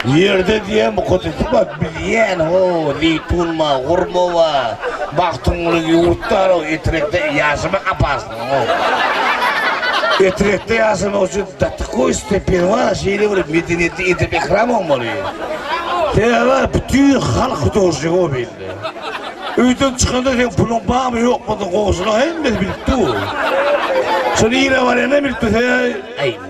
Ýerde diýen mukaddesi bar. Biz ýän ho, zeýtun bar, hurma bar. Magtymguly ýurt bar, o Etrek-de ýaşamak apaslygyň ho. Etrekde ýaşamak üçin da takoý stepen bar, şeýle bir medeniýetli edep-ekram bolmaly. Sebäbi bütin halk hudožnigi o belli. Öýden çykanda seň puluň barmy, ýokmydygyny goňşylaň hemmesi bilip dur. Şuny ýere barýan hem bilip dur. Sebäbi,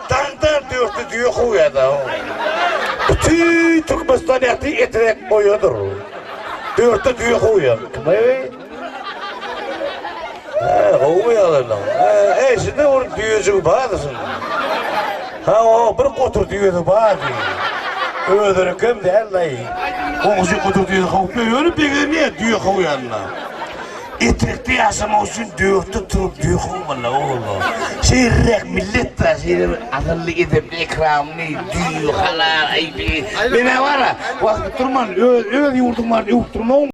Daňda dörti düýe kowýada. Bütin Türkmenistan ýagty etrek boýadyr. Dörti düýe kowýa. Kimey? He, gowmy ýagdaýlaň? He, eşide bir düýejigi bardy şunuň. Ha, o, bir gotur düýesi bardy. Özünikem däldi-aý. Goňşy gotur düýesi kowupmy? Öýlenip begenýä düýe kowýanyna. Etrikde ýaşamak üçin dörtde turup döküň walla oglum. Şeýleräk millet bar, şeýle bir asylly, edepli, ekramly, düýbi, halal, aýby. Men-ä bar-a, wagty durman öz ýurduň baryny öwüp durmagyn.